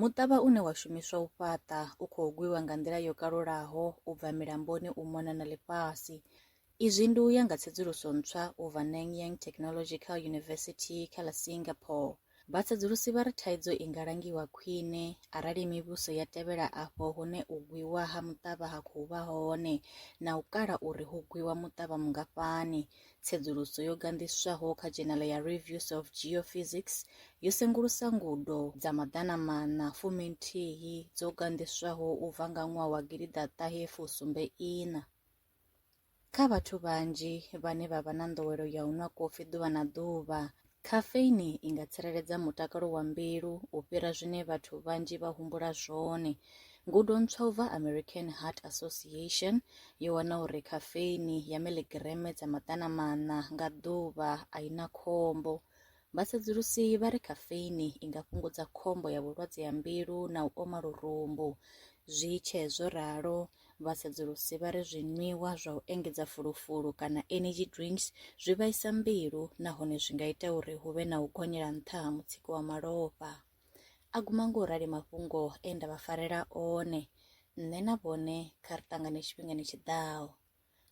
Muṱavha une wa shumiswa u fhaṱa u khou gwiwa nga nḓila yo kalulaho u bva milamboni u mona na ḽifhasi. Izwi ndi u ya nga tsedzuluso ntswa u bva Nanyang Technological University kha ḽa Singapore. Vhasedzulusi vha ri thaidzo i nga langiwa khwine arali mivhuso ya tevhela afho hune u gwiwa ha muṱavha ha khou vha hone na u kala uri hu gwiwa muṱavha mungafhani, Tsedzuluso yo ganḓiswaho kha dzhenala ya Reviews of Geophysics yo sengulusa ngudo dza maḓana maṋa fumi nthihi dzo ganḓiswaho u bva nga ṅwaha wa gidiḓaṱahe fusumbe iṋa. Kha vhathu vhanzhi vhane vha vha na nḓowelo ya u nwa kofi ḓuvha na ḓuvha, Khafeini i nga tsireledza mutakalo wa mbilu u fhira zwine vhathu vhanzhi vha humbula zwone. Ngudo ntswa u bva American Heart Association yo wana uri khafeini ya miḽigireme dza maḓana maṋa nga ḓuvha a i na khombo. Vhasedzulusi vha ri khafeini i nga fhungudza khombo ya vhulwadze ha mbilu na u oma lurumbu. Zwi tshee zwo ralo, Vha sedzulusi vha ri zwinwiwa zwa u engedza fulufulu kana energy drinks zwi vhaisa mbilu nahone zwi nga ita uri hu vhe na u gonyela nṱha ha mutsiko wa malofha. A guma ngo rali mafhungo e nda vha farela one. Nṋe na vhone kha ri ṱangane tshifhingani tshi ḓaho.